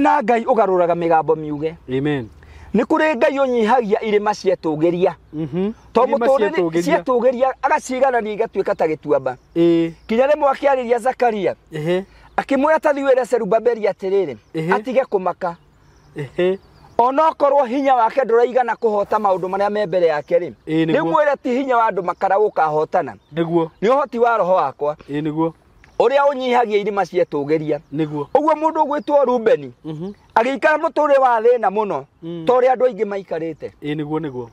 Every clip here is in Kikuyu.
na ngai ũgarũraga mĩgambo miuge Amen. nĩ kũrĩ ngai ũnyihagia irĩma cietũgĩria Mhm. to Irĩma mũtũrĩre cietũgĩria. cietũgĩria agaciganania igatuĩka ta gĩtuamba Ĩĩ. kinya rĩmwe akĩarĩria zakaria Ehe. akĩmwĩra tathi wĩre serubabeli atĩrĩrĩ Ehe. atige kũmaka Ehe. onokorwo hinya wake ndũraigana kũhota maũndũ marĩa me mbere yake rĩ Ĩĩ, nĩguo. rĩmwĩre ti hinya wa andũ makara gũkahotana Nĩguo. nĩ ũhoti wa roho wakwa Ĩĩ nĩguo. ũrĩa ũnyihagia irima cietũgeria nĩguo ũguo mũndũ ũgwĩtwo rubeni Mhm. agĩikara mũtũrĩ wa thĩna mũno Mm. ta ũrĩa andũ aingĩ maikarĩte ĩ nĩguo nĩguo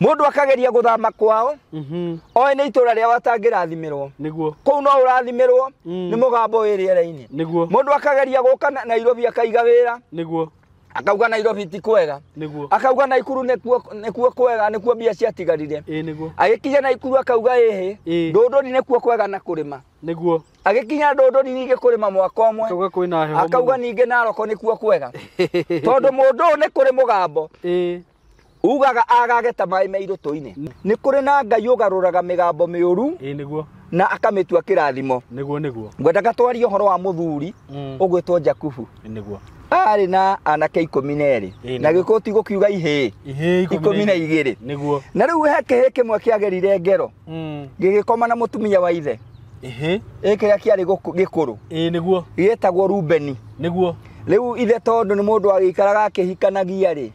mũndũ akageria gũthama kwao Mhm. oĩ nĩ itũra rĩao atangĩrathimirwo nĩguo kũu no ũrathimirwo Mm. nĩ mũgambo wĩ rĩera-inĩ nĩguo mũndũ akageria gũka na- nairobi akaiga wĩra nĩguo akauga nairobi ti kwega niguo akauga naikuru nikuo nikuo kwega nikuo mbia ciatigarire ĩ niguo agĩkinya naikuru akauga ĩhĩ Ĩ. ndũndũri nĩkuo kwega na kũrĩma niguo agĩkinya ndũndũri ningĩ kũrĩma mwaka ũmwe akauga kwĩna heho akauga ningĩ naroko nĩkuo kwega tondũ mũndũ ũyũ nĩ kũrĩ mũgambo ĩ ugaga agage ta maĩ me irũtũ-inĩ nĩ kũrĩ na ngai ũgarũraga mĩgambo mĩũru ĩĩ nĩguo na akamĩtua kĩrathimo nĩguo nĩguo ngwendaga twarie ũhoro wa mũthuri Mm. ũgwĩtwo jakubu nĩguo arĩ na anake ikũmi na erĩ Ĩĩ, na nĩguo. gĩkũti gũkiuga ihĩĩ ihĩĩ ikũmi na igĩrĩ nĩguo na rĩu he kĩhĩĩ kĩmwe kĩagerire ngero Mm. gĩgĩkoma na mũtumia wa ithe ihĩĩ ĩĩ kĩrĩa kĩarĩ gũkũ- gĩkũrũ ĩĩ nĩguo gĩgĩtagwo rubeni nĩguo rĩu ithe tondũ nĩ mũndũ agĩikaraga akĩhikanagia rĩ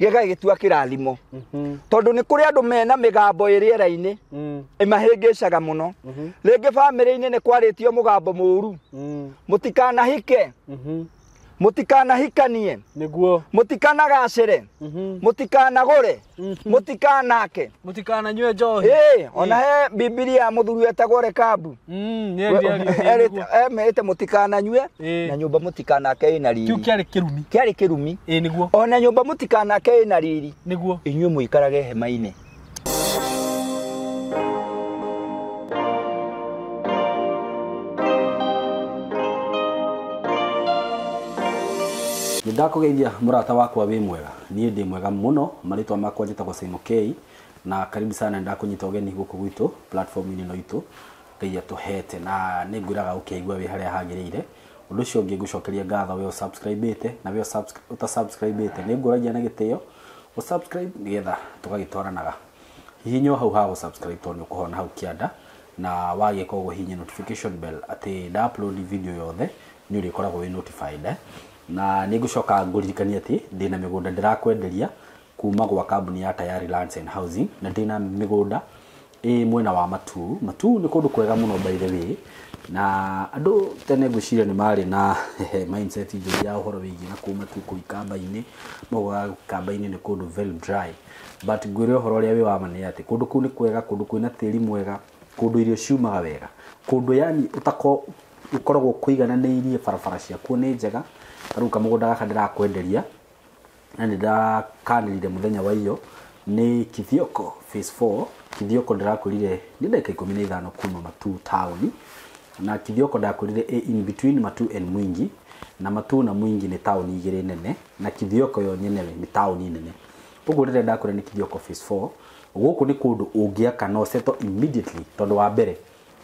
gĩgagĩtua kĩrathimo Mhm. tondũ nĩ kũrĩ andũ mena mĩgambo ĩrĩ era-inĩ Mm. ĩmahĩngĩcaga mũno Mhm. rĩngĩ bamĩrĩ-inĩ nĩ kwarĩtio mũgambo mũũru Mm. mũtikanahike Mhm. mũtikanahikanie nĩguo mũtikanagacĩre Mhm. mũtikanagũre Mhm. mũtikanake mũtikananyue njohi Ĩĩ, ona he bibilia mũthuri wetagwo rekabu Mm, nĩ We- ndiario erĩte- nĩguo. emerĩte mũtikananyue Ĩĩ. na nyũmba mũtikanake ĩna kĩu riri kĩarĩ kĩrumi kĩarĩ kĩrumi ĩĩ nĩguo ona nyũmba mũtikanake ĩna riri nĩguo inyuĩ mũikarage hema-inĩ nĩndakũgeithia mũrata wakwa wĩ mwega Niĩ ndĩ mwega mũno, marĩtwa makwa njĩtagwo Simon Kei, na karibu sana nĩ ndakũnyita ũgeni gũkũ gwitũ platform inĩ ĩno itũ Ngai atũhete, na nĩ ngwĩraga ũkeigua wĩ harĩa hagĩrĩire, ũndũ ũcio ũngĩ ngũcokeria ngatho we ũ subscribe ĩte, na we ũta subscribe ĩte, nĩ ngũragia na gĩtĩo ũ subscribe nĩgetha tũgagĩtwaranaga, hihinya o hau ha gũ subscribe tondũ nĩ ũkũhona hau kĩanda, na wagĩka ũguo hihinya notification bell atĩ nda upload video yothe nĩ ũrĩkoragwo wĩ notified. Na nĩ ngũcoka ngũririkanie atĩ ndĩ na mĩgũnda ndĩrakwenderia kuuma gwa kambuni ya Tayari Lands and Housing na ndĩ na mĩgũnda ĩ mwena wa Matuu. Matuu nĩ kũndũ kwega mũno by the way na andũ tene ngwĩciria nĩ marĩ na mindset njũru ya ũhoro wĩgiĩ na kũu Matuu kũu ikamba-inĩ, maugaga ikamba-inĩ nĩ kũndũ very dry but ngwĩre ũhoro ũrĩa wĩ wa ma nĩ atĩ kũndũ kũu nĩ kwega, kũndũ kwĩna tĩri mwega, kũndũ irio ciumaga wega, kũndũ yani ũtakoragwo gĩkoragwo kũigananĩirie barabara ciakuo nĩ njega, ta rĩu kamũgũnda gaka ndĩrakwenderia na nĩ ndakanĩrire mũthenya wa iyo nĩ Kithioko phase four, Kithioko ndĩrakwĩrire nĩ ndagĩka ikũmi na ithano kuma Matuu taũni, na Kithioko ndakwĩrire ĩ in between Matuu and Mwingi, na Matuu na Mwingi nĩ taũni igĩrĩ nene, na Kithioko yo nyene nĩ taũni nene. Ũguo rĩrĩa ndakwĩra nĩ Kithioko phase four, gũkũ nĩ kũndũ ũngĩaka na ũ settle immediately, tondũ wa mbere,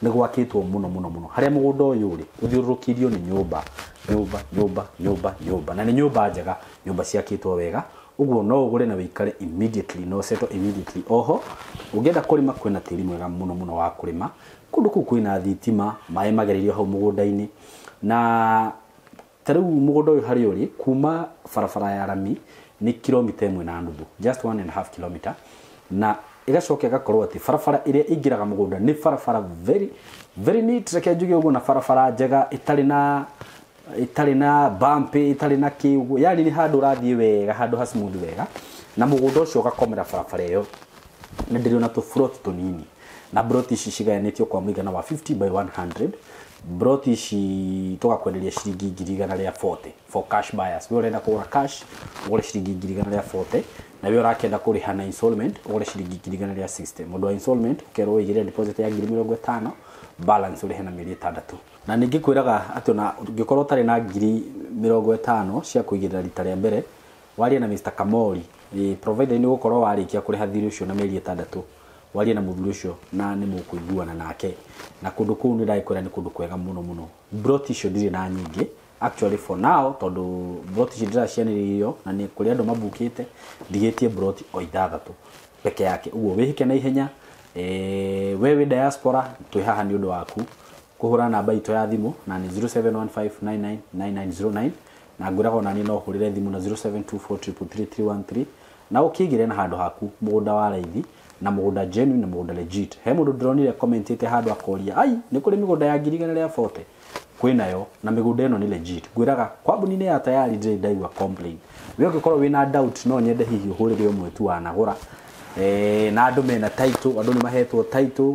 nĩ gwakĩtwo mũno mũno mũno harĩa mũgũnda ũyũ ũrĩ ũthiũrũrũkĩirio nĩ nyũmba nyũmba nyũmba nyũmba nyũmba na nĩ nyũmba njega nyũmba ciakĩtwo wega ũguo no ũgũre na wĩikare immediately no settle immediately oho ũngĩenda kũrĩma kwĩna tĩri mwega mũno mũno wa kũrĩma kũndũ kũu kwĩna thitima maĩ magereirio hau mũgũnda-inĩ na Ta rĩu mũgũnda ũyũ harĩa ũrĩ kuma barabara ya rami nĩ kiromita ĩmwe na nuthu, just one and a half kilometer, na ĩgacoka ĩgakorwo atĩ barabara ĩrĩa ĩingĩraga mũgũnda nĩ barabara very, very neat, reke njuge ũguo, na barabara njega ĩtarĩ na ĩtarĩ na bump ĩtarĩ na kĩ ũguo, yani nĩ handũ ũrathiĩ wega, handũ ha smooth wega, na mũgũnda ũcio ũgakomera barabara ĩyo, na ndĩrĩ ona tũ plot tũnini. na broti ici cigayanĩtio kwa mũigana wa 50 by 100 broti ici tũgakwenderia ciringi ngiri igana rĩa 40 for cash buyers we ũrenda kũgũra cash ũgũre ciringi ngiri igana rĩa 40 na we ũrakĩenda kũrĩha na installment ũgũre ciringi ngiri igana rĩa 60 mũndũ wa installment ũkerwo ũigĩrĩre deposit ya ngiri mĩrongo ĩtano balance ũrĩhe na mĩeri ĩtandatũ na ningĩ kwĩraga atĩ ona ũngĩkorwo ũtarĩ na ngiri mĩrongo ĩtano cia kũigĩrĩra rita rĩa mbere waria na Mr. Kamori eh, provider nĩ ũgũkorwo warĩkia kũrĩha thirĩ ũcio na mĩeri ĩtandatũ warie na muthuri ucio na ni mukuiguana nake na kundu kuu ni ndagikwira ni kundu kwega muno muno brot icio ndire na nyingi actually for now tondu brot icio ndiracianiririo na ni kuri andu mabukite ndigitie brot o ithathatu peke yake uguo wihike na ihenya eh, we wi diaspora twi haha ni undu waku kuhura namba itũ ya thimũ na nĩ 0715999909 Na ngwĩraga o na niĩ no ũhũrĩre thimũ na 0724333313 na ũkĩigĩre na handũ haku mũgũnda wa raithi na mũgũnda genuine na mũgũnda legit. He mũndũ ndĩronire commentĩte handũ akoria, ai, nĩ kũrĩ mĩgũnda ya ngiri igana rĩa bote? Kwĩnayo, na mĩgũnda ĩno nĩ legit. Ngwĩraga, kambuni-inĩ ya Tayari ndirĩ ndaigua complain. Wee ũngĩkorwo wĩna doubt no nyende hihi ũhũrĩre ũmwe tu wanagũra, na andũ mena title, andũ nĩ mahetwo title,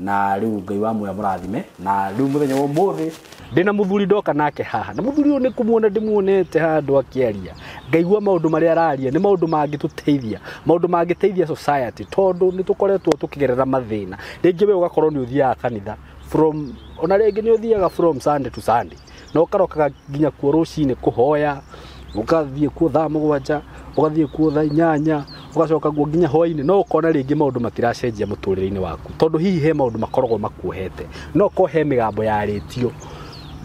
na riu ngai wa muya murathime na riu muthenya wa umuthi ndi na muthuri ndoka nake haha na muthuri uyu ni kumuona ndimuonete handu akiaria ngaigua maundu maria araria ni maundu mangituteithia maundu mangiteithia society tondu ni tukoretwo tukigerera mathina ringi we ugakorwo ni uthiaga kanitha from ona ringi ni uthiaga from sunday to sunday na ũkarokaga nginya kuo rũcinĩ kũhoya ũgathiĩ kuo thaa mũgwanja ũgathiĩ kuo thaa inyanya ũgacoka guo nginya hwainĩ no ũkona rĩngĩ maũndũ matiracenjia mũtũrĩre-inĩ waku tondũ hihi he maũndũ makoragwo makuohete no ũkorwo he mĩgambo yarĩtio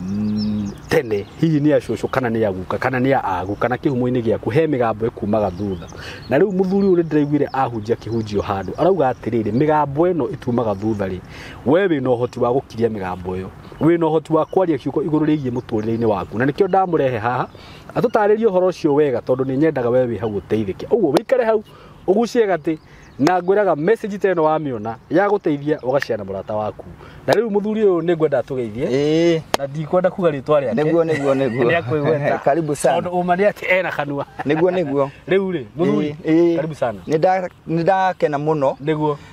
mm, tene hihi nĩ acũcũ kana nĩ aguka kana nĩ aagu kana kĩhumo-inĩ gĩaku he mĩgambo ĩkumaga thutha na rĩu mũthuri ũyũ nĩndĩraiguire ahunjia kĩhunjio handũ arauga atĩrĩrĩ mĩgambo ĩno ĩtumaga thutha rĩ we wĩna ũhoti wa gũkiria mĩgambo ĩyo wĩ na ũhoti wa kwaria kiugo igũrũ rĩgiĩ mũtũrĩre-inĩ waku na nĩkĩo ndamũrehe haha atũtarĩrie ũhoro ũcio wega tondũ nĩ nyendaga we wĩ hau ũteithĩke ũguo wĩikare hau ũgucie gatĩ na ngwĩraga message ta ĩno wamĩona ya gũteithia ũgacea na mũrata waku na rĩu mũthuri ũyũ nĩ ngwenda atũgeithie Ĩĩ. na ndikwenda kuga rĩtwa rĩake Nĩguo, nĩguo, nĩguo. Nĩ akwĩgweta. Karibu sana. tondũ ũma nĩ atĩ ena kanua Nĩguo, nĩguo. rĩu rĩ mũthuri Ĩĩ, ĩĩ. karibu sana Nĩ nda- nĩ ndakena mũno nĩguo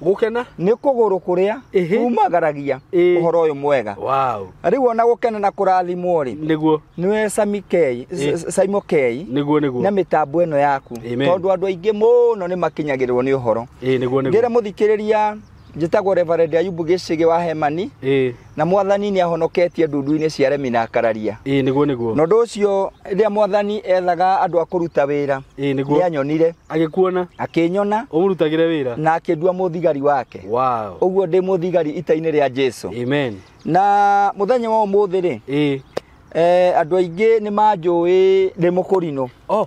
gũkena nĩ kũgũrũ kũrĩa Ĩhĩ. kumagaragia Ĩĩ. ũhoro ũyũ mwega wow rĩu ona gũkena na kũrathimwo rĩ nĩguo nĩwe Sami Kei- Ĩ. S- Saimo Kei nĩguo nĩguo na mĩtambo ĩno yaku Amen. tondũ andũ aingĩ mũno nĩ makinyagĩrĩrwo nĩ ũhoro ĩĩ nĩguo ngĩre nĩguo mũthikĩrĩria njĩtagwo Reverend Ayubu Gĩcĩgĩ wa Hemani ĩĩ Na mwathani nĩ ahonoketie ndundu-inĩ cia remi na kararia. Ĩĩ nĩguo nĩguo. Na ũndũ ũcio rĩrĩa mwathani ethaga andũ a kũruta wĩra, Ĩĩ nĩguo. nĩ anyonire, Agĩkuona akĩnyona ũmũrutagĩre wĩra. na akĩndua mũthigari wake. Wow. Ũguo ndĩ mũthigari ita-inĩ rĩa Jesu. Amen. Na mũthenya wa ũmũthĩ rĩ, Ĩĩ. eh, andũ aingĩ nĩ manjũĩ ndĩ mũkũrinũ. Oh,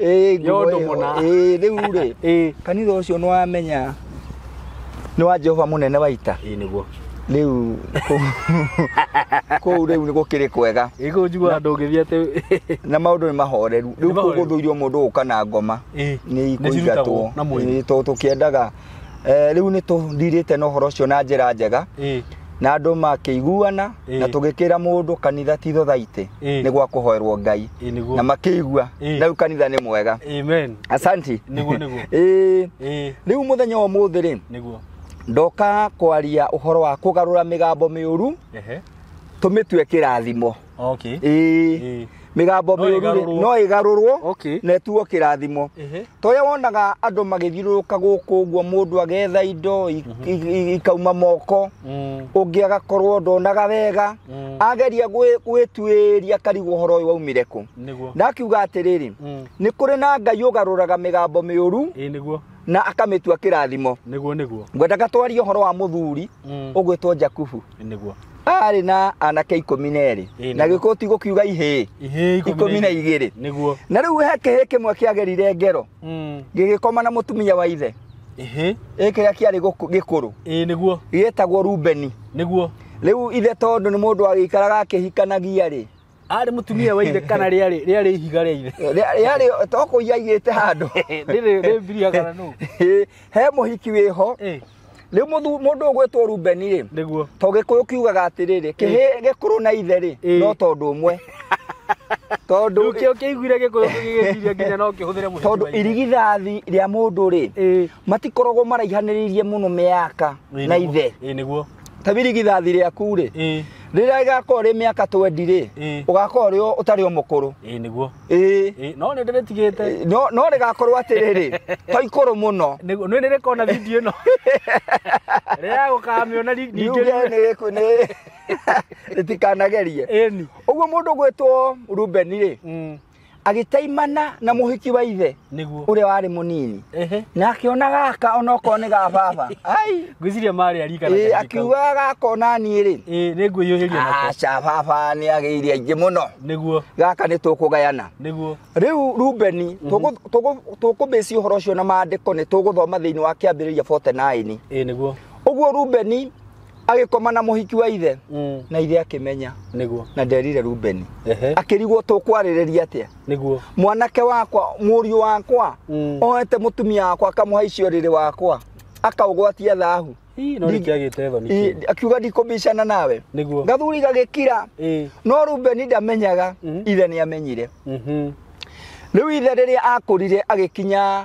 Ĩĩ, nguo Yondũ ĩyo. mũna. Ĩĩ, rĩu rĩ ĩĩ kanitha ũcio nĩ wamenya nĩ wa jehova mũnene wa ita ĩĩ nĩguo rĩu kũu- kũu rĩu nĩ gũkĩrĩ kwega ĩgũ njiguaga ndũngĩthiĩ atĩ na maũndũ nĩ mahoreru rĩu kũu mahoreru. gũthũirio mũndũ gũka na ngoma Ĩĩ, nĩ nĩciruta ikũingatwo gũkũ na mwĩrĩ. Ĩĩ, tondũ tũkĩendaga Eh, rĩu nĩ tũndirĩte na ũhoro ũcio na njĩra njega ĩ na andũ makĩiguana Ĩĩ. na tũgĩkĩra mũndũ kanitha ti thothaitĩ Ĩĩ. nĩ gwa kũhoerwo ngai ĩ na nĩguo makĩigua Ĩĩ. na rĩu kanitha nĩ mwega amen asanti Nĩguo, nĩguo. Ĩĩ, ĩ rĩu mũthenya wa ũmũthĩ rĩ nĩguo ndoka kwaria ũhoro wa kũgarũra mĩgambo mĩũru ehe tũmĩtue kĩrathimo Okay. ĩĩ Ĩĩ. mĩgambo No mĩũru ĩgarũrwo. no ĩgarũrwo Okay. na ĩtuo kĩrathimo Ehe. toya wonaga andũ magĩthiũrũrũka gũkũ ũguo mũndũ agetha indo i- i- i- ikauma moko Mm. ũngĩ agakorwo ndonaga wega Mm. ageria gwĩ- gwĩtuĩria akarigwo ũhoro ũyũ waumire kũ Nĩguo. ndakiuga atĩrĩrĩ Mm. nĩ kũrĩ na ngai ũgarũraga mĩgambo mĩũru Ĩĩ nĩguo. na akamĩtua kĩrathimo nĩguo nĩguo ngwendaga twarie ũhoro wa mũthuri Mm. ũgwĩtwo jakubu nĩguo arĩ na anake ikũmi na erĩ Ĩĩ, na nĩguo. gĩkũ ti gũkiuga ihĩĩ ihĩ ikũmi na igĩrĩ nĩguo na rĩu he kĩhĩĩ kĩmwe kĩagerire ngero Mm. gĩgĩkoma na mũtumia wa ithe ihĩ ĩ kĩrĩa kĩarĩ gũkũ- gĩkũrũ ĩĩ nĩguo gĩtagwo rubeni nĩguo rĩu ithe tondũ nĩ mũndũ agĩikaraga akĩhikanagia-rĩ arĩ mutumia wa ithe kana rĩarĩ rĩarĩ ihiga rĩa ithe rĩarĩ toko iyaigĩte handũ rĩrĩ rĩ mbiria kana nũ Ĩ, he mũhiki wĩho Eh, rĩu mũthu- mũndũ ũgwĩtwo rubeni rĩ nĩguo to gĩkũyũ kiugaga atĩrĩrĩ kĩhĩ gĩkũrũ na ithe rĩ Ĩ. no tondũ ũmwe tondũ rĩu kĩo kĩiguire gĩkũyũ gĩgĩciria nginya no kĩhũthĩre mũhiki tondũ wa ithe. irigithathi rĩa mũndũ rĩ Eh, matikoragwo maraihanĩrĩirie mũno mĩaka ĩ na nĩguo. ithe Ĩ, nĩguo ta birigithathi rĩaku-rĩ ĩĩ rĩrĩa rĩgakorwo rĩ mĩaka 20-rĩ Ĩĩ. ũgakorwo ũrĩ o- ũtarĩ o mũkũrũ ĩĩ nĩguo ĩĩ ĩĩ no nĩ ndĩrĩtigĩte no no rĩgakorwo atĩrĩrĩ to ikũrũ mũno nĩguo nĩ nĩrĩkona video ĩno rĩrĩa gũkamĩona ri- ningĩ Yuge nĩ- nĩ- rĩtikanagerie ĩni ũguo mũndũ gwĩtwo rubeni-rĩ Mm. agĩtaimana na mũhiki wa ithe nĩguo ũrĩa warĩ mũnini ehe na akĩona gaka onokorwo nĩ ga baba ai ngwĩciria marĩ arika na Ĩĩ, kahinda kau. akiuga gaka onani rĩ Ĩĩ, nĩngwĩyũhĩria nako aca baba nĩ agĩire aingĩ mũno nĩguo gaka nĩ tũkũgayana nĩguo rĩu rubeni tũgũ- tũgũ- tũkũmĩci ũhoro ũcio na maandĩko nĩ tũgũthoma thĩinĩ wa kĩambĩrĩria 49 ĩĩ nĩguo ũguo rubeni agĩkoma na mũhiki wa ithe Mm. na ithe akĩmenya Nĩguo. na nderire rubeni Ehe. akĩrigwo tũkwarĩrĩria atĩa Nĩguo. mwanake wakwa mũriũ wakwa Mm. ohete mũtumia wakwa akamũha icio rĩrĩ wakwa akaũgwatia thahu Ii, no Ndi- nĩkĩagĩte thoni I- kĩu. akiuga ndikũbicana nawe Nĩguo. gathuri gagĩkira Ĩĩ. no rubeni ndamenyaga Mhm. ithe nĩ amenyire Mhm. rĩu ithe rĩrĩa akũrire agĩkinya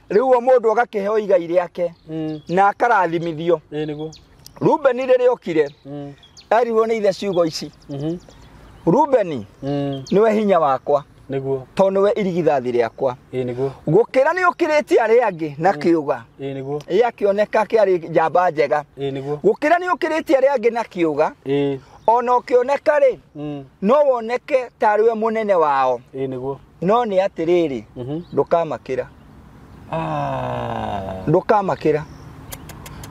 rĩu uo mũndũ agakĩheo igai rĩake mm. na akarathimithio rubeni rĩrĩa okire mm. erirwo nĩ ithe ciugo ici mm-hmm. rubeni mm. nĩwe hinya wakwa niguo to niwe irigithathi riakwa ii niguo gukira ni ukirite ari angi na mm. kiuga ii niguo ii akioneka kiari njamba njega ii niguo gukira ni ukirite ari angi na kiuga ii ona ukioneka ri mm. no woneke tariwe munene wao ii niguo no nĩ atĩrĩrĩ Mhm. ndũkamakĩra Ah. ndũkamakĩra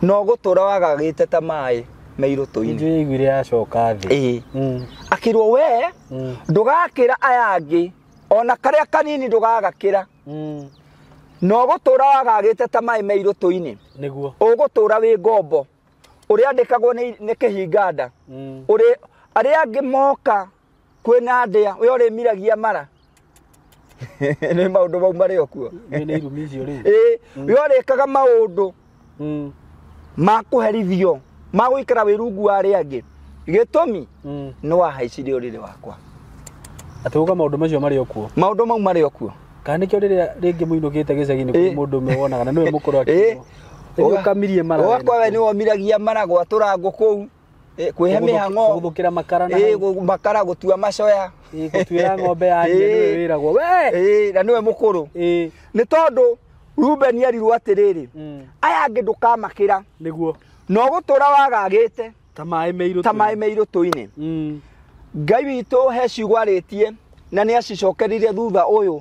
no gũtũra wagagĩte ta maĩ meirũtũ-inĩ Nĩnjũĩ yaiguire yacoka thĩ. ĩĩ Mm. akĩrwo we Mm. ndũgakĩra aya angĩ ona karĩa kanini ndũgagakĩra Mm. no gũtũra wagagĩte ta maĩ meirũtũ-inĩ Nĩguo. ũgũtũra wĩ ngombo ũrĩa andĩkagwo nĩ nĩ kĩhinganda Mm. ũrĩ arĩa angĩ moka kwĩna ndĩa ũrĩa ũrĩmiragia mara nĩ maũndũ mau marĩ o kuo Nĩ nĩ irumi icio rĩu. Ĩĩ, ũrĩa ũrĩkaga maũndũ Mm, ma kũherithio ma gũikara wĩ rungu wa arĩa angĩ gĩtũmi mm. nĩ wahaicirie ũrĩrĩ wakwa Atĩ uga maũndũ macio marĩ o kuo. maũndũ mau marĩ o kuo Kana nĩkĩo rĩrĩa rĩngĩ mũinũkĩte gĩcagi-inĩ Ĩĩ. kũrĩ mũndũ ũmwe wonaga na nĩwe mũkũrũ Ĩĩ. akĩrwo. Ũga- Ũkamirie mara. ũgakora we nĩ womiragia mara gwatũra ngũ kũu Eh, kwĩhe Kũgũthũ- mĩhang'o kũgũthũkĩra makara na Eh, hau. gũ- makara gũtua macoya Ĩĩ, gũtuĩra ng'ombe ya nyina nĩwe Ĩĩ. wĩragwo we Eh, na nĩwe mũkũrũ Ĩĩ, nĩ tondũ rubeni erirwo atĩrĩrĩ mm, aya angĩ ndũkamakĩra nĩguo na ũgũtũra wagagĩte ta maĩ meirũ ta tũĩ. maĩ meirũ tũinĩ Mm, ngai witũ he ciugo arĩtie na nĩ acicokerire thutha ũyũ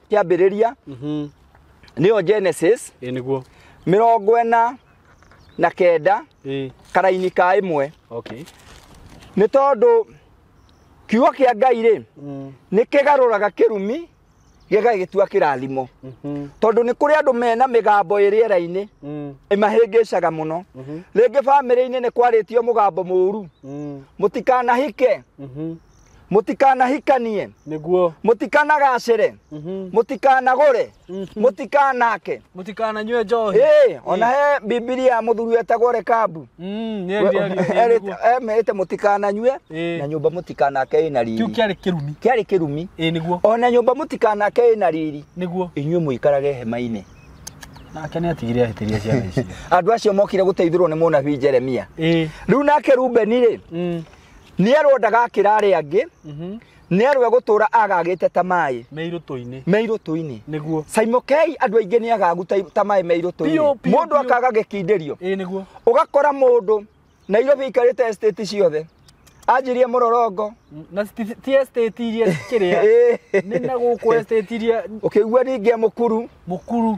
kĩambĩrĩria Mhm. nĩyo genesis Ĩ nĩguo. mĩrongo ĩna na kenda Ĩ. karaini ka ĩmwe Okay. nĩ tondũ kiugo kĩa ngai rĩ Mm. nĩ kĩgarũraga kĩrumi gĩgagĩtua kĩrathimo Mhm. tondũ nĩ kũrĩ andũ mena mĩgambo ĩ rĩera-inĩ Mm. ĩmahĩngĩcaga mũno Mhm. rĩngĩ bamĩrĩ-inĩ nĩ kwarĩtio mũgambo mũũru Mm. mũtikanahike Mhm. mũtikanahikanie nĩguo mũtikanagacĩre Mhm. mũtikanagũre Mhm. mũtikanake mũtikananyue njohi Ĩĩ, ona he bibilia mũthuri etagwo rekabu Mm, nĩ We- ndiario, nĩ erĩte- nĩguo. emerĩte mũtikananyue Ĩĩ. na nyũmba mũtikanake ĩna kĩu riri kĩarĩ kĩrumi kĩarĩ kĩrumi ĩĩ nĩguo ona nyũmba mũtikanake ĩna riri nĩguo inyuĩ mũikarage hema-inĩ nake nĩ atigire ahĩtĩria ciana icio andå acio mokire gå teithä rwo nä må nabii jeremia ĩĩ rä u nake rubeni rä Mm, nĩerwo ndagakĩra arĩa angĩ Mhm. nĩerwo egũtũũra agagĩte ta maĩ me irũtũ-inĩ me irũtũ-inĩ nĩguo caimũkei andũ aingĩ nĩ agagu ta ta maĩ me Biũ, irũtũ-inĩ biũ, mũndũ biũ. akaga gĩkindĩrio ĩĩ nĩguo ũgakora mũndũ nairobi aikarĩte estate ciothe anjirie mũrorongo na ti- ti estate iria kĩrĩa nĩ na gũkũ estate iria ũkĩigua ningĩ mũkuru mũkuru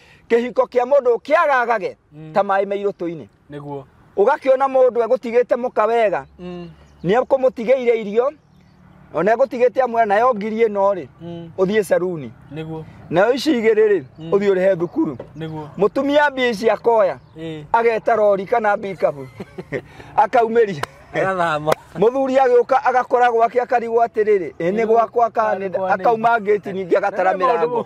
kĩhiko kĩa mũndũ kĩagagage Mm. ta maĩ meirũtũ-inĩ nĩguo ũgakĩona mũndũ egũtigĩte mũka wega Mm, nĩ ekũmũtigĩire irio ona egũtigĩte amwe nayo ngiri ĩno rĩ mm, ũthiĩ caruni nĩguo nayo ici igĩrĩ rĩ Mm. ũthiĩ ũrĩhe thukuru nĩguo mũtumia mbia ici akoya ĩĩ ageta rori kana mbikabu akaumĩria agathama mũthuri agĩũka agakora gwake akarigwo atĩrĩrĩ ĩ nĩ gwakwa kana nĩ- akauma ngĩti ningĩ agatara Nĩ maũndũ mĩrango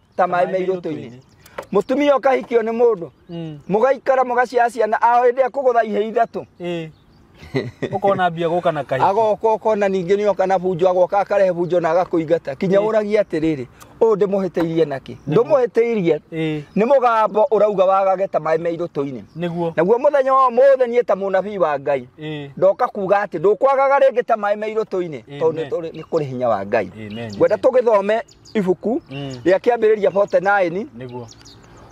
ta maĩ me irũtũ-inĩ mũtumia ũkahikio nĩ mũndũ Mm. mũgaikara mũgaciara ciana ao hĩndĩ ĩrĩa kũgũtha ihĩ ithatũ Eh. Ũkona mbia gũka na kahinda. agoka ũkona ningĩ nĩ oka na bunjo agoka akarehe bunjo na agakũingata kinya Eh. ũragia atĩrĩrĩ ũyũ ndĩmũhĩtĩirie nakĩ Nĩguo. ndũmũhĩtĩirie Eh. nĩ mũgambo ũrauga wagage ta maĩ me irũtũ-inĩ Nĩguo. naguo mũthenya wa ũmũthĩ niĩ ta mũnabii wa ngai Eh. ndoka kuga atĩ ndũkwagaga rĩngĩ ta maĩ me irũtũ-inĩ tondũ nĩ Amen. tũrĩ- nĩ kũrĩ hinya wa ngai Amen. ngwenda tũgĩthome ibuku Mm. rĩa kĩambĩrĩria 49 nĩguo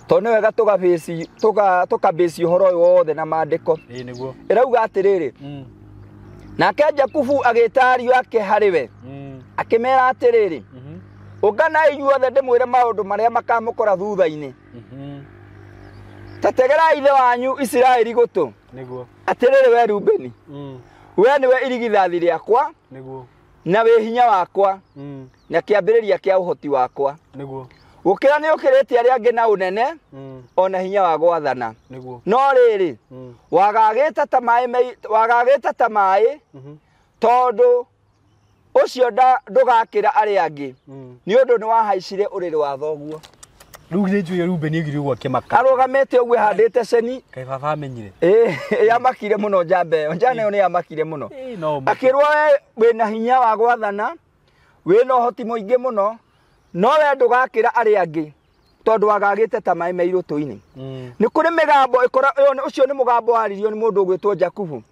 tondũ nĩ wega tũgabĩci- tũga- tũkabĩci ũhoro ũyũ wothe na maandĩko ĩĩ nĩguo ĩrauga atĩrĩrĩ Mm. nake jakubu agĩta ariũ ake harĩ we Mm. akĩmera atĩrĩrĩ Mhm. ũnganai inyuothe ndĩmwĩre maũndũ marĩa makamũkora thutha-inĩ Mhm. ta tegera ithe wanyu isiraeli gũtũ nĩguo atĩrĩrĩ we rubeni Mm. we nĩwe irigithathi rĩakwa nĩguo na wĩ hinya wakwa Mm. na kĩambĩrĩria kĩa ũhoti wakwa nĩguo gũkĩra nĩ ũkĩrĩtie arĩa angĩ na ũnene mm, o na hinya wa gwathana nĩguo no rĩrĩ mm, wagagĩte ta maĩ mei- wagagĩte ta maĩ mhm, tondũ ũcio nda- ndũgakĩra arĩa angĩ mm. nĩ ũndũ nĩ wahaicire ũrĩrĩ wa thoguo rĩu githĩ njũĩ rubeni aigire ũguo akĩmaka arũgamĩte ũguo handĩte ceni kaĩ baba amenyire ĩ, yamakire mũno njamba ĩyo njana ĩyo nĩ yamakire mũno Ĩĩ, no ũmake. akĩrwo we wĩna hinya wa gwathana wĩna ũhoti mũingĩ mũno no we ndũgakĩra arĩa angĩ tondũ wagagĩte ta maĩ me irũtũ-inĩ mm. nĩ kũrĩ mĩgambo ũcio nĩ mũgambo waririo nĩ mũndũ ũgwĩtwo jakubu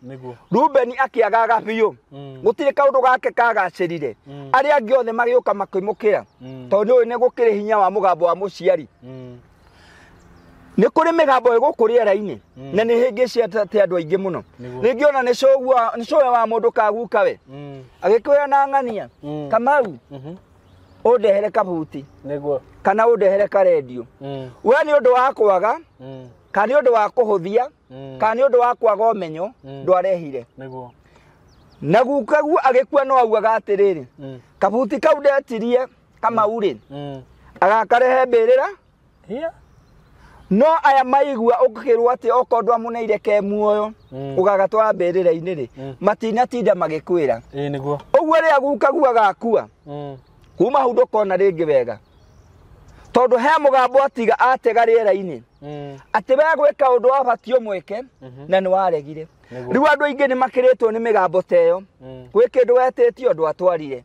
rubeni akĩagaga biũ mm. gũtirĩ kaũndũ gake kagacĩrire mm. arĩa angĩ othe magĩũka makĩmũkĩra tondũ nĩ ũyũ nĩ gũkĩrĩ hinya wa mũgambo wa mũciari nĩ kũrĩ mĩgambo ĩgũkũ rĩera-inĩ na nĩ hĩngĩcia atĩ andũ aingĩ mũno Nĩguo. rĩngĩ ona nĩ cũgua- nĩ cũwe wa mũndũ kaguka we Mm. agĩkwĩra na ng'ania Mm. kamau Mhm. ũndehere kabuti Nĩguo. kana ũndehere karendio Mm. we nĩ ũndũ wa kwaga Mm. kana nĩ ũndũ wa kũhũthia Mm. kana nĩ ũndũ wa kwaga ũmenyo Mm. ndwarehire Nĩguo. na gukaguo agĩkua no augaga atĩrĩrĩ Mm. kabuti kau ndetirie kamau rĩ Mm. agakarehe mbĩrĩra Hiya. no aya maigua ũkĩrwo atĩ okorwo ndwamuneire ke muoyo Mm. ũgagatwara mbĩrĩra-inĩ rĩ Mm. matinatinda magĩkwĩra Ĩĩ nĩguo. ũguo rĩrĩa gukagua gakua Mm. kuma hau ndũkona rĩngĩ wega tondũ he mũgambo atiga atega rĩera-inĩ Mm. atĩ we gwĩka ũndũ wabatiĩ ũmwĩke Mhm. na nĩ waregire Nĩguo. rĩu andũ aingĩ nĩ makĩrĩtwo nĩ mĩgambo ta ĩyo Mm. gwĩ kĩndũ wetĩtio ndwatwarire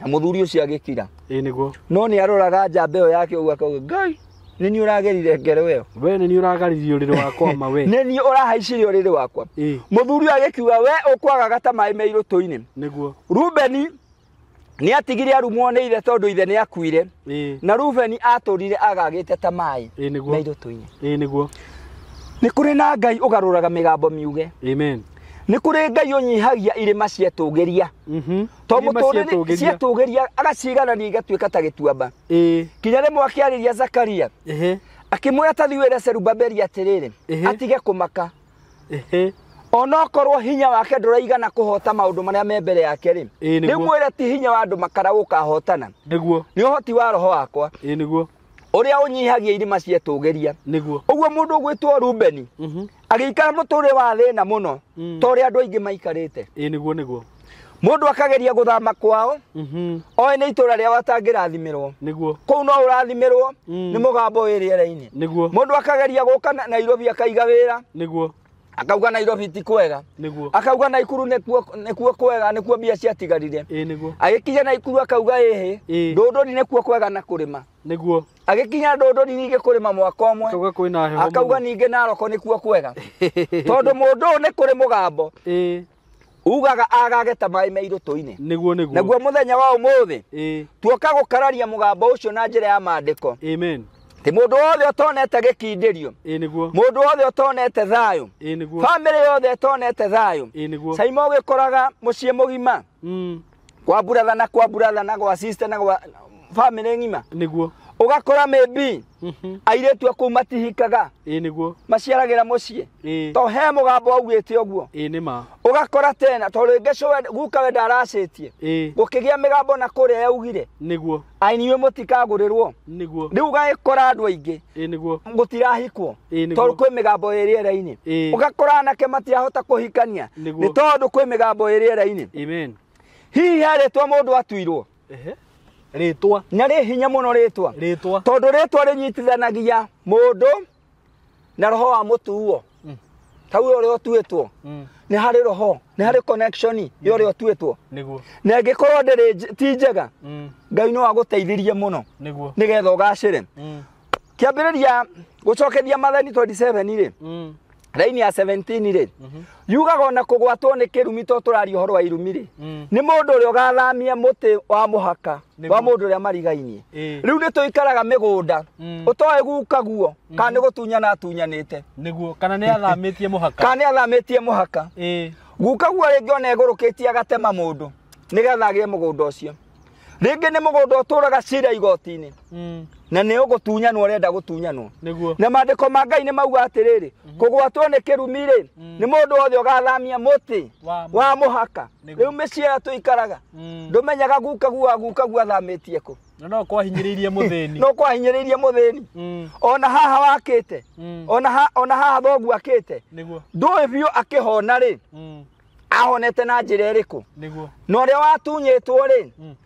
na mũthuri ũcio agĩkira ĩ nĩguo no nĩ aroraga njamba ĩyo yake ũguo akauga ngai nĩ niĩ ũragerire ngero ĩyo we nĩ niĩ ũragaririe ũrĩrĩ wakwa ma we nĩ niĩ ũrahaicire ũrĩrĩ wakwa ĩ mũthuri ũyũ agĩkiuga we ũkwagaga ta maĩ me irũtũ-inĩ nĩguo rubeni nĩ atigire arumwo nĩ ithe tondũ ithe nĩ akuire ĩ na rubeni atũrire agagĩte ta maĩ ĩ me nĩguo irũtũ-inĩ ĩ nĩguo nĩ kũrĩ na ngai ũgarũraga mĩgambo miuge amen nĩ kũrĩ ngai ũnyihagia irĩma cietũgĩria mhm to Irima mũtũrĩre cietũgĩria. cietũgĩria agaciganania igatuĩka ta gĩtuamba ĩĩ kinya rĩmwe akĩarĩria zakaria ehe akĩmwĩra tathi wĩre serubabeli atĩrĩrĩ Ehe. atige kũmaka ehe onokorwo hinya wake ndũraigana kũhota maũndũ marĩa me mbere yake rĩ Ĩĩ, nĩguo. rĩmwĩre ti hinya wa andũ makara gũkahotana nĩguo nĩ ũhoti wa roho wakwa ĩĩ nĩguo ũrĩa ũnyihagia irima cietũgĩria nĩguo ũguo mũndũ ũgwĩtwo rubeni Mhm. agĩikara mũtũrĩre wa thĩna mũno Mm. ta ũrĩa andũ aingĩ maikarĩte ĩ nĩguo nĩguo mũndũ akageria gũthama kwao Mhm. oĩ nĩ itũra rĩao atangĩrathimirwo nĩguo kũu no ũrathimirwo Mm. nĩ mũgambo wĩ rĩera-inĩ nĩguo mũndũ akageria gũka na- nairobi akaiga wĩra nĩguo akauga nairobi ti kwega nĩguo akauga naikuru nĩkuo nĩkuo kwega nĩkuo mbia ciatigarire ĩ nĩguo agĩkinya naikuru akauga ĩhĩ Ĩ. ndũndũri nĩkuo kwega na kũrĩma nĩguo agĩkinya ndũndũri ningĩ kũrĩma mwaka ũmwe akauga kwĩna heho akauga ningĩ naroko nĩkuo kwega tondũ mũndũ ũyũ nĩ kũrĩ mũgambo ĩĩ ugaga agage ta maĩ me irũtũ-inĩ nĩguo nĩguo naguo mũthenya wa ũmũthĩ ĩĩ tuoka gũkararia mũgambo ũcio na njĩra ya maandĩko amen ti mũndũ wothe ũtonete gĩkindĩrio ĩĩ nĩguo mũndũ wothe ũtonete thayũ ĩĩ nĩguo bamĩrĩ yothe ĩtonete thayũ ĩĩ nĩguo caima ũgĩkoraga mũciĩ mũgima Mm. kwa brother na kwa brother na kwa sister na kwa family ng'ima niguo ugakora maybe Mhm. airĩtu akuu matihikaga ĩĩ niguo maciaragĩra mũciĩ ĩĩ to he mũgambo augĩte ũguo ĩĩ nĩ ma ũgakora tena to rĩngĩ cũ we- guka we ndaracĩtie ĩĩ gũkĩgĩa mĩgambo na kũrĩa yaugire niguo ai niwe mutikagurĩrwo niguo rĩu ũgagĩkora andũ aingĩ ĩ niguo gũtirahikwo Ĩĩ, nĩguo. tondũ kwĩ mĩgambo ĩ rĩera-inĩ Ĩĩ. ũgakora anake matirahota kũhikania Nĩguo. nĩ tondũ kwĩ mĩgambo ĩ rĩera-inĩ amen hihi he rĩtwa mũndũ atuirwo ehe rĩtwa na rĩ hinya mũno rĩtwa rĩtwa tondũ rĩtwa rĩnyitithanagia mũndũ na roho wa mutuo Mm. ta uyo ri otuitwo Mm. ni hari roho ni hari connection yo ri otuitwo niguo na ngikorwo ndiri nj- ti njega Mm. ngai no aguteithirie muno niguo nigetha ugacire Mm. kiambiriria gucokeria mathani 27 ri Mm. raini ya 17 ri Mhm. yugaga ona kugwatwo ni kirumi to turari uhoro wa irumi ri Mm. nĩ mũndũ ũrĩa ũgathamia mũtĩ wa mũhaka Nĩguo. wa mũndũ ũrĩa marigainie Ĩĩ. rĩu nĩ tũikaraga mĩgũnda Mm. ũtoĩ guka guo kana nĩ gũtunyana atunyanĩte nĩguo kana nĩ athamĩtie mũhaka kana nĩ athamĩtie mũhaka Ĩĩ. guka guo rĩngĩ ona ĩgũrũkĩtie agatema mũndũ nĩgetha agĩe mũgũnda ũcio rĩngĩ nĩ mũgũnda ũtũraga cira igoti-inĩ Mm. na nĩ ũgũtunyanwo ũrenda gũtunyanwo nĩguo na maandĩko ma ngai nĩ mauga atĩrĩrĩ kũgwatwo nĩ kĩrumi-rĩ nĩ mũndũ wothe ũgathamia mũtĩ Wa- wa mũhaka rĩu mĩciĩ ĩyo tũikaraga Mm. ndũmenyaga guka gua guka gua thamĩtie kũ na no kwahinyĩrĩirie mũthĩni no kwahinyĩrĩirie mũthĩni Mm, ona haha wakĩte mm, ona ha- ona haha thoguo akĩte nĩguo ndũĩ biũ akĩhona rĩ Mm, ahonete na njĩra ĩrĩkũ nĩguo na ũrĩa watunyĩtwo rĩ Mm.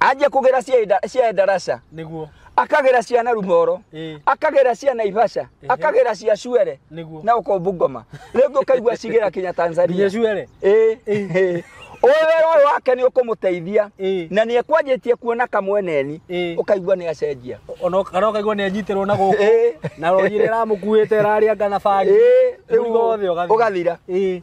anjia kugera cienda- cia ndaraca niguo akagera cia na rumoro Eh. akagera cia na ibaca akagera cia cuere Nĩguo. na ukombu ngoma riu ngi ukaigua cigera kinya tanzania nginya cuere Eh, eh. Ũyũ wĩra ũyũ wake nĩ ũkũmũteithia Eh. na nĩ ekwanjĩtie kuona kamweneni Eh. ũkaigua nĩ acenjia ona kana ũkaigua nĩ anyitirwo na gũkũ Eh. na rori ĩrĩa ĩramũkuĩte ĩrarĩa ngana bangi Eh, rĩu mũrigo wothe ũgathira. ũgathira. Eh.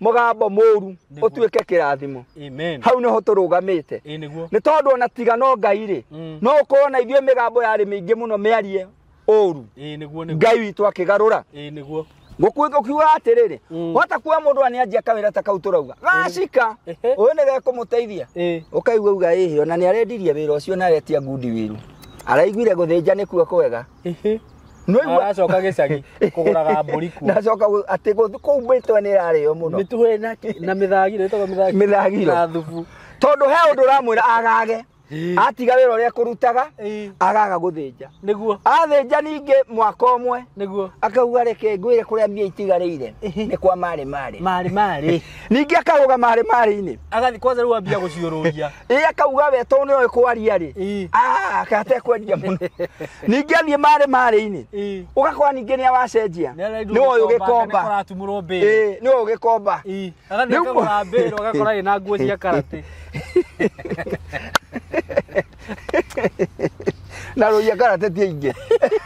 mũgambo mũru Nĩguo. ũtuĩke kĩrathimo Amen. hau nĩho tũrũgamĩte Ĩ nĩguo. nĩ tondũ ona tiga no ngai rĩ Mm. no ũkorwo na ithuĩ mĩgambo yarĩ mĩingĩ mũno mĩarie ũru Ĩ nĩguo nĩguo. ngai witũ akĩgarũra Ĩ nĩguo. gũkiuga atĩrĩrĩ Mm. wata kuwa mũndũ anĩanjia kawĩra ta kau tũrauga gacika Ehe. ũyũ nĩ gekũmũteithia Ĩ. ũkaigua uga ĩhĩ ona nĩ arendirie wĩra ũcio na aretia ngundi wĩru araiguire gũthĩnja nĩkuo kwega Ĩhĩ. Nĩwaigua? Aracoka gĩcagi kũgũraga mbũri kuo. Nacoka gũ- atĩ gũ- kũu mĩtwe nĩ ĩrarĩo mũno. Mĩtuhĩ na na mĩthagiro ĩtagwo mĩthagiro. Mĩthagiro. Na thubu. Tondũ he ũndũ ũramwĩra agage. Atiga wĩra ũrĩa kũrutaga, Ĩĩ. agaga gũthĩnja. Nĩguo. Athĩnja ningĩ mwaka ũmwe, Nĩguo. akauga reke ngwĩre kũrĩa mbia itigarĩire Ĩhĩ. nĩ kwa marĩ marĩ. Marĩ marĩ. Ningĩ akarũga marĩ marĩ-inĩ. Agathiĩ kwanza rĩu ambia gũciũrũria. ĩ akauga we to nĩ oĩ kwaria rĩ Ĩ. Ah, aka atekwendia mũno ningĩ aniĩ marĩ marĩ-inĩ Ĩ. ũgakora ningĩ nĩ awacenjia nĩ oĩ ũgĩkomba ũgĩkomba Ĩ, nĩ oĩ ũgĩkomba Rĩu- agathiĩkagũra mbĩrũ agakora ĩ na nguo cia karate na rũiya karate ti aingĩ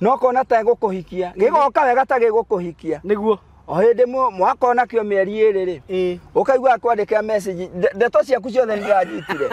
no kona ta gũkũhikia gĩgoka wega ta gĩgũkũhikia nĩguo o hĩndĩ mũ- mwakona kĩo mĩeri ĩrĩ rĩ Ĩĩ. ũkaigua akwandĩkĩra message nde- ndeto ciaku ciothe nĩndĩranyitire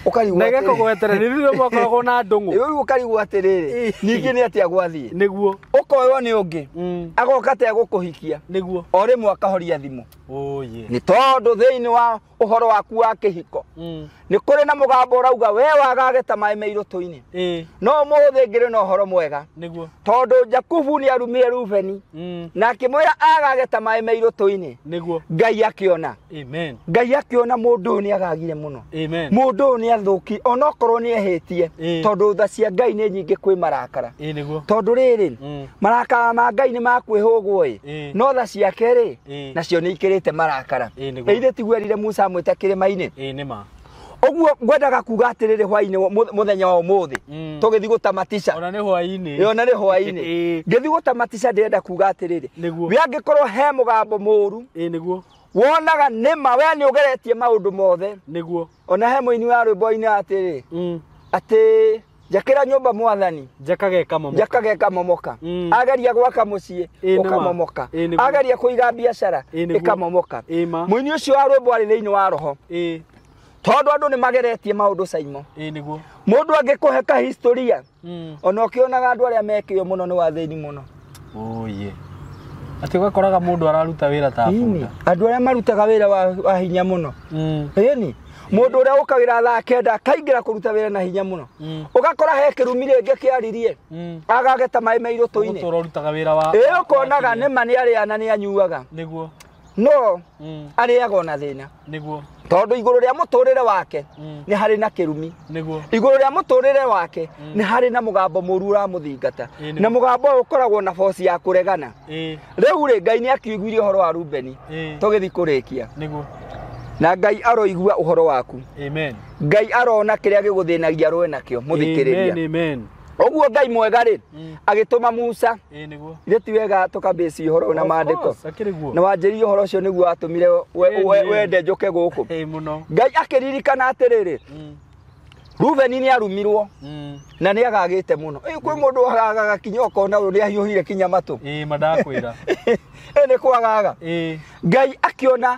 ũkarigwo nege atĩrĩ- kũgwetere nĩ rĩrĩa mwakoragwo na ndũng'ũ rĩu ũkarigwo atĩrĩrĩ Ĩĩ. ningĩ nĩ atĩa gwathiĩ nĩguo ũkoywo nĩ ũngĩ Mm, agoka ta egũkũhikia nĩguo o rĩmwe akahoria thimũ ũyĩ nĩ tondũ thĩinĩ wa ũhoro waku wa kĩhiko Mm. nĩ kũrĩ na mũgambo ũrauga we wagage ta maĩ me irũtũ-inĩ Ĩĩ, no mũthĩ ngĩrĩ na ũhoro mwega nĩguo tondũ jakubu nĩ arumire rubeni Mm. na akĩmwĩra agage ta maĩ me irũtũ-inĩ nĩguo ngai akĩona amen ngai akĩona mũndũ ũyũ nĩ agagire mũno amen mũndũ ũyũ nĩ athũki onokorwo nĩ ehĩtie Ĩĩ. tondũ tha cia ngai nĩ nyingĩ kwĩ marakara Ĩĩ, nĩguo tondũ rĩrĩ Mm. marakara ma ngai nĩ makwĩhũgwo ĩ Ĩĩ. no tha ciake rĩ Ĩĩ. nacio nĩ ikĩrĩte marakara Ĩĩ, nĩguo. na ithe tiguo erire musa amwĩte kĩrĩma-inĩ ĩĩ nĩ ma ũguo ngwendaga kuga atĩrĩrĩ hwainĩ wa- mu- mũthenya wa ũmũthĩ Mm. tũgĩthiĩ gũtamatisha ona nĩ hwainĩ yona nĩ hwainĩ Ĩĩ. ngĩthiĩ gũtamatisha ndĩrenda kuga atĩrĩrĩ Nĩguo. we angĩkorwo he mũgambo mũru ĩĩ nĩguo wonaga nĩma we nĩ ũgeretie maũndũ mothe nĩguo ona he mũini wa rwĩmbo oina atĩrĩ mm. atĩ njakĩra nyũmba mwathani njakage kamomoka njakage kamomoka mm. ageria gwaka mũciĩ ũkamomoka ageria kũiga biacara ĩkamomoka mũini ũcio wa rwĩmbo arĩ thĩinĩ wa roho tondũ andũ nĩ mageretie maũndũ caimo mũndũ angĩkũhe ka historia Mm. ona ũkĩonaga andũ arĩa mekĩo mũno nĩ wathĩni mũno Ũyĩ. Atĩ ũgakoraga mũndũ araruta wĩra ta Ini, bunda. andũ arĩa marutaga wĩra wa, wa hinya mũno Mm. ĩni mũndũ ũrĩa ũkagĩra thaa kenda akaingĩra kũruta wĩra na hinya mũno Mm. ũgakora he kĩrumi rĩngĩ kĩaririe Mm. agageta maĩ mairũtũ-inĩ Ũgũtũra ũrutaga wĩra wa. ĩ ũkonaga nĩma nĩ arĩa na nĩ anyuaga Nĩguo. no Mm. arĩaga ona thĩna nĩguo tondũ igũrũ rĩa mũtũrĩre wake Mm. nĩ harĩ na kĩrumi nĩguo igũrũ rĩa mũtũrĩre wake nĩ harĩ na mũgambo mũru ũramũthingata Ĩĩ, nĩ na mo. mũgambo ũyũ ũkoragwo na boci ya kũregana ĩĩ rĩu rĩ ngai nĩ akiũiguire ũhoro wa rubeni ĩĩ tũgĩthiĩ kũrĩkia nĩguo na ngai aroigua ũhoro waku amen ngai arona kĩrĩa gĩgũthĩnagia rũe nakĩo mũthikĩrĩria Amen, amen. ũguo ngai mwega rĩ Mm. agĩtũma musa ĩĩ nĩguo ithe ti wega tũkambĩci ũhoro ũyũ na Of maandĩko course, akĩrĩ guo na wanjĩrie ũhoro ũcio nĩguo watũmire we- Ĩĩ, we- ĩĩ. wende njũke gũkũ ĩĩ mũno ngai akĩririkana atĩrĩrĩ Mm, rubeni nĩ arumirwo mm. na nĩ agagĩte mũno Ĩĩ, kwĩ mũndũ wagaga kinya ũkona ũyũ nĩ ahiũhire kinya matũ ĩĩ mandakwĩra Ĩĩ, nĩ kwagaga ĩĩ ngai akĩona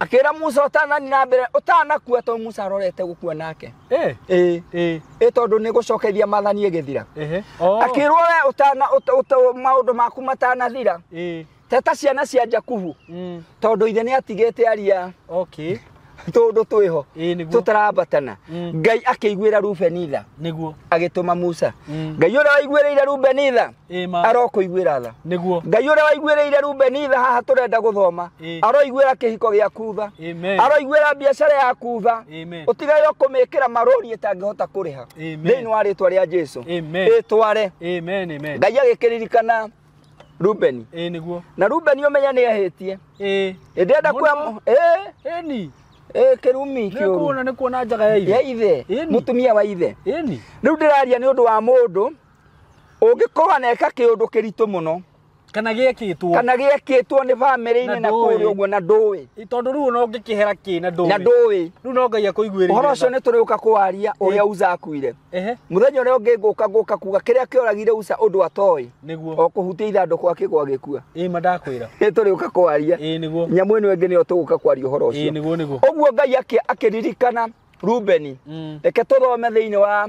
akĩra musa ũtanani na mbere ũtanakua to musa arorete gũkua nake Eh, ĩĩ eh, ĩ tondũ nĩ gũcokeria mathani ĩgĩthira ehe. Oh, akĩrwo we ũtana ũta- ũta- maũndũ maku matanathira eh, teta ciana cia jakubu mm, tondũ ithe nĩ atigĩte aria okay. tũndũ twĩho Ĩĩ, nĩguo. tũtaraambatana Mm. ngai akĩiguĩra rubeni tha nĩguo agĩtũma musa Mm. ngai ũrĩa waiguĩrĩire rubeni tha Ĩ ma. arokũiguĩra tha Nĩguo. ngai ũrĩa waiguĩrĩire rubeni tha haha tũrenda gũthoma Ĩ. aroiguĩra kĩhiko gĩaku tha Amen. aroiguĩra biacara yaku tha Amen. ũtigaĩrwo kũmĩkĩra marũri ĩtangĩhota kũrĩha Amen. thĩinĩ wa rĩtwa rĩa jesu Amen. ĩtware Amen. Amen. ngai agĩkĩririkana rubeni Ĩ nĩguo. na rubeni ũmenya nĩ ahĩtie Ĩ. ĩndĩenda Mũno. kuoya ĩ Ĩni. ĩ kĩrumi Nĩ kĩũru kuona nĩ kuona njaga ya ya ithe. ithe Ĩni. mũtumia wa ithe Ĩni. rĩu ndĩraria nĩ ũndũ wa mũndũ ũngĩkorwo aneka kĩũndũ kĩritũ mũno kana gĩekĩtwo kana gĩekĩtwo nĩ bamĩrĩ-inĩ na kũrĩ ũguo na ndũĩ tondũ rĩu ona ũngĩkĩhera kĩ na ndũĩ na ndũĩ rĩu no ngai akũiguĩre ũhoro ũcio nĩ tũrĩũka kũwaria ũrĩa uza akuire mũthenya ũrĩa ũngĩ ngũka ngũka kuga kĩrĩa kĩoragire uza ũndũ atoĩ nĩguo o kũhutia ithandũkũ akĩgwa gĩkua ĩĩ ma ndakwĩra nĩ tũrĩũka kũwaria ĩĩ nĩguo nyamũ ĩno ĩngĩ nĩyo tũgũka kwaria ũhoro ũcio ĩĩ nĩguo nĩguo ũguo ngai akĩririkana rubeni mm. reke tũthome thĩinĩ wa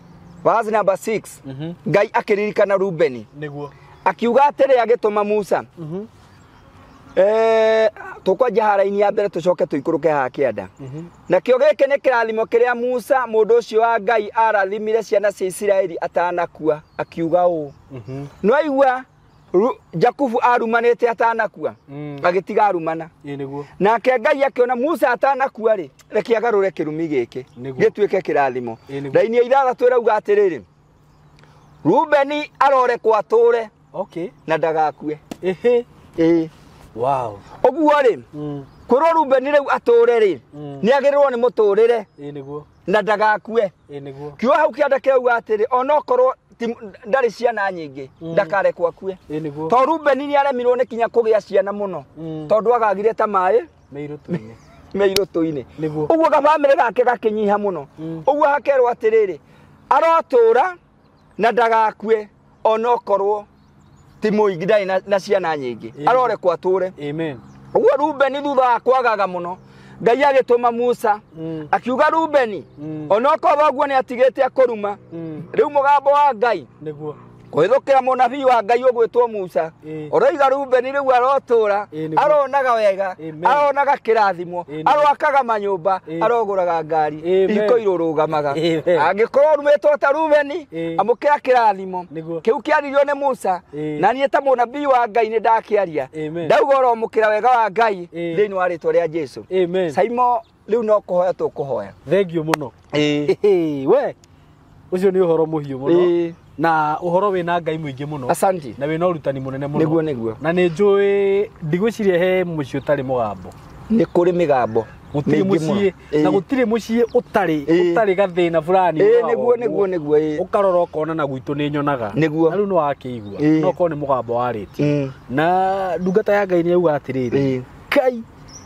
verse number 6 Mhm. ngai akĩririkana rubeni nĩguo akiuga atĩrĩ agĩtũma musa Mhm. Eh, tũkwanjia hara-inĩ ya mbere tũcoke tũikũrũke haha kĩanda Mhm. nakĩo gĩkĩ nĩ kĩrathimo kĩrĩa musa mũndũ ũcio wa ngai arathimire ciana cia isiraeli atanakua akiuga ũũ Mhm. nwaigua Ru- jakubu arumanĩte atanakua Mm. agĩtiga arumana Ĩ nĩguo. nake ngai akĩona musa atanakua rĩ reke agarũre kĩrumi gĩkĩ Nĩguo. gĩtuĩke kĩrathimo Ĩ nĩguo. raini ya ithathatũ ĩrauga atĩrĩrĩ rubeni arorekwo atũre Okay. na ndagakue Ehe. ĩĩ Wow. ũguo rĩ Mm. kwĩrwo rubeni rĩu atũre rĩ Mm. nĩ agĩrĩrwo nĩ mũtũrĩre Ĩ nĩguo. na ndagakue ĩ nĩguo kiuga hau kĩanda kĩauga atĩrĩ onokorwo ti- ndarĩ ciana nyingĩ Mm. ndakarekwo akue ĩ nĩguo to rubeni nĩ aremirwo nĩ kinya kũgĩa ciana mũno Mm. tondũ agagire ta maĩ mĩirũ tũinĩ me irũtũ-inĩ Nĩguo. ũguo gabamĩrĩ gake gakĩnyiha mũno Mm. ũguo hakerwo atĩrĩrĩ arotũra na ndagakue ona okorwo ti mũingi ndarĩ na- na ciana nyingĩ Amen. arorekwo atũre Amen. ũguo rubeni thutha wa kwagaga mũno ngai agĩtũma musa Mm. akiuga rubeni Mm. ona okorwo ũguo nĩ atigĩte akũruma Mm. rĩu mũgambo wa ngai Nĩguo. kũhĩthũkĩra mũnabii wa ngai ũgwĩtwo musa Ĩĩ. ũroiga rubeni rĩu arotũra Ĩĩ, nĩguo. aronaga wega Amen. aronaga kĩrathimo Ĩĩ, nĩguo. aroakaga manyũmba Ĩĩ. arogũraga ngari Amen. iko irũrũgamaga Amen. angĩkorwo rumĩtwo ta rubeni Ĩĩ. amũkĩra kĩrathimo Nĩguo. kĩu kĩaririo nĩ musa Ĩĩ. na niĩ ta mũnabii wa ngai nĩ ndakĩaria Amen. ndauga ũromũkĩra wega wa ngai Ĩĩ. thĩinĩ wa rĩtwa rĩa jesu Amen. saimo rĩu no kũhoya tũkũhoya thengiũ mũno ĩĩ Ĩhĩ, we ũcio nĩ ũhoro mũhiũ mũno ĩĩ na ũhoro wĩna ngai mũingĩ mũno asanti na wĩna ũrutani mũnene mũno nĩguo nĩguo na nĩ njũĩ ndigwĩciria he mũciĩ ũtarĩ mũgambo nĩ kũrĩ mĩgambo gũtirĩ mĩingĩ mũno. mũciĩ Ĩĩ. na gũtirĩ mũciĩ ũtarĩ Ĩĩ. ũtarĩ gathĩna fulani Ĩĩ, ũrora nĩguo ũguo. nĩguo nĩguo ĩĩ. ũkarora ũkona na gwitũ nĩ nyonaga Nĩguo. na rĩu nĩ wakĩigua Ĩĩ. no korwo nĩ mũgambo warĩtie Mm. na ndungata ya ngai nĩ yauga atĩrĩrĩ Ĩĩ. kai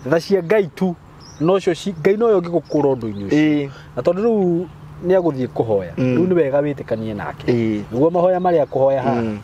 tha cia ngai tu nocio ci- ngai noyo ngĩgũkũra ũndũ-inĩ ũcio ĩĩ na tondũ rĩu nĩ agũthiĩ kũhoya Mm. rĩu nĩ wega wĩtĩkanie nake ĩĩ nĩguo mahoya marĩa akũhoya haha Mm.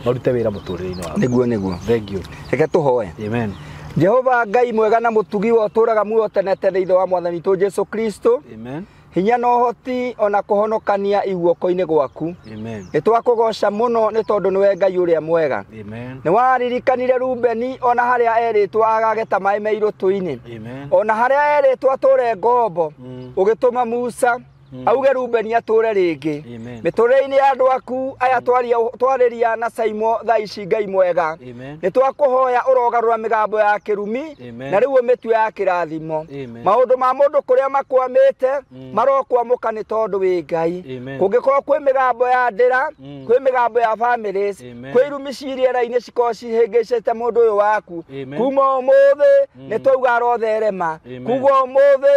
marute wĩra mũtũrĩre-inĩ waku nĩguo nĩguo thengio reke tũhoe amen jehova ngai mwega na mũtugi wa ũtũraga muoyo tene tene ithe wa mwathani witũ jesu kristo amen hinya na ũhoti o na kũhonokania iguoko-inĩ gwaku Amen. nĩ twakũgoca mũno nĩ tondũ nĩwe ngai ũrĩa mwega Amen. nĩ waririkanire rubeni o na harĩa erĩtwo agageta maĩ me irũtũ-inĩ Amen. o na harĩa erĩtwo atũre ngombo Mm. ũgĩtũma musa auge rubeni atũre rĩngĩ Amen. mĩtũrĩre-inĩ ya andũ aku aya twaria- twarĩria na caimo thaa ici ngai mwega Amen. nĩ twakũhoya ũrogarũra mĩgambo ya kĩrumi Amen. na rĩu ũmĩtue ya kĩrathimo Amen. maũndũ ma mũndũ kũrĩa makwamĩte Mm. marokwamũka nĩ tondũ wĩ ngai Amen. kũngĩkorwo kwĩ mĩgambo ya ndĩra Mm. kwĩ mĩgambo ya families Amen. kwĩ irumi ciriera-inĩ cikorwo cihĩngĩcĩte mũndũ ũyũ waku Amen. kuma ũmũthĩ nĩ twauga arotherema Amen. kuga ũmũthĩ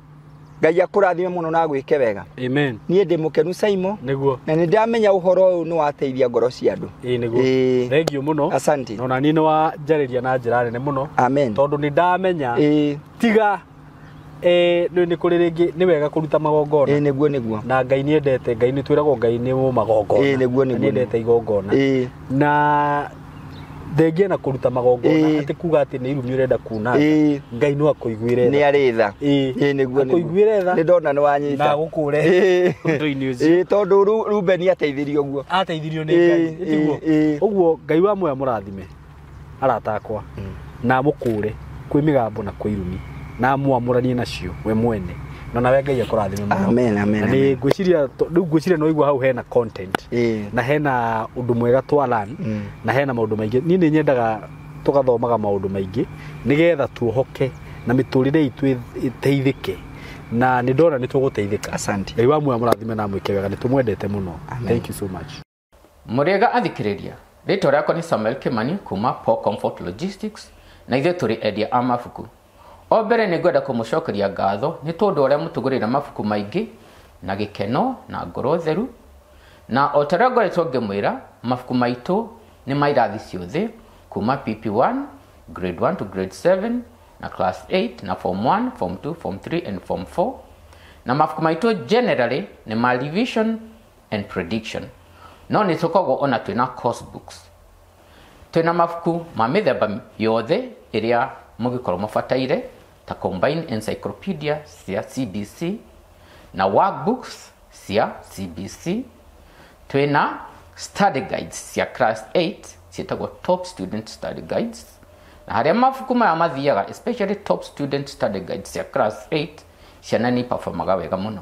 ngai akũrathime mũno na gwĩke wega amen niĩ ndĩ mũkenu saimo nĩguo na nĩ ndamenya ũhoro ũyũ nĩ wateithia ngoro cia andũ ĩĩ nĩguo Ĩĩ. thengiũ mũno asante na ona niĩ nĩ wanjarĩria na njĩra nene mũno amen tondũ nĩ ndamenya Ĩĩ, tiga eh, nĩ nĩ kũrĩ rĩngĩ nĩ wega kũruta ĩĩ, magongona nĩguo nĩguo na ngai nĩ endete ngai nĩ twĩragwo ngai nĩ Ĩĩ, magongona nĩguo, Na nĩguo. nĩ endete igongona Ĩĩ. na thengia na kũruta magongona Ĩĩ. atĩ kuga atĩ nĩ irumi ũrenda kuna Ĩĩ. ngai no akũiguĩre nĩ tha. arĩ tha Ĩĩ. Ĩĩ, nĩguo Akũiguĩre tha. nĩ ndona nĩ wanyita na agũkũre Ĩĩ. ũndũ-inĩ ũcio Ĩĩ, tondũ Ru- rubeni ateithirio guo ateithirio nĩ Ĩĩ, ngai ĩĩ, Tiguo? ĩĩ. ũguo ngai wa moya mũrathime arata akwa na amũkũũre kwĩ mĩgambo na kwĩ irumi na amwamũranie nacio we mwene na nawe ngai akũrathime mũno Amen, amen, Na nĩ amen. ngwĩciria to- rĩu ngwĩciria nĩ waigua hau hena content Ĩĩ. na hena ũndũ mwega twalan Mm. na hena maũndũ maingĩ niĩ nĩ nyendaga tũgathomaga maũndũ maingĩ nĩgetha tuohoke na mĩtũrĩre itũ ĩ- ĩteithĩke na nĩ ndona nĩ tũgũteithĩka Asante. ngai wa muoyo amũrathime na amwĩke wega nĩ tũmwendete mũno Amen. thank you so much mũrĩega athikĩrĩria rĩtwa rĩakwa nĩ samuel kimani kuma Paul comfort logistics na ithuĩ tũrĩ endia a mabuku o mbere nĩ ngwenda kũmũcokeria ngatho nĩ tondũ ũrĩa mũtũgũrĩra mabuku maingĩ na gĩkeno na ngoro theru na o ta ũrĩa ngoretwo ngĩmwĩra mabuku maitũ nĩ ma irathi ciothe kuma pp1 grade 1 to grade 7 na class 8 na form 1 form 2 form 3 and form 4 na mabuku maitũ generally nĩ ma revision and prediction no nĩ tũkoragwo ona twĩ na course books twĩ na mabuku ma mĩthemba yothe ĩrĩa mũngĩkorwo mũbataire ta combine encyclopedia cia cbc na workbooks cia cbc twĩ na study guides cia class 8 ciĩtagwo top student study guides na harĩa mabuku maya mathiaga especially top student study guides cia class 8 ciana nĩ performaga wega mũno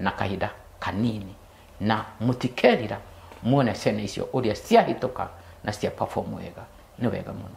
na kahinda kanini na mũtikerira muone ciana icio ũrĩa ciahĩtũka na cia perform wega nĩ wega mũno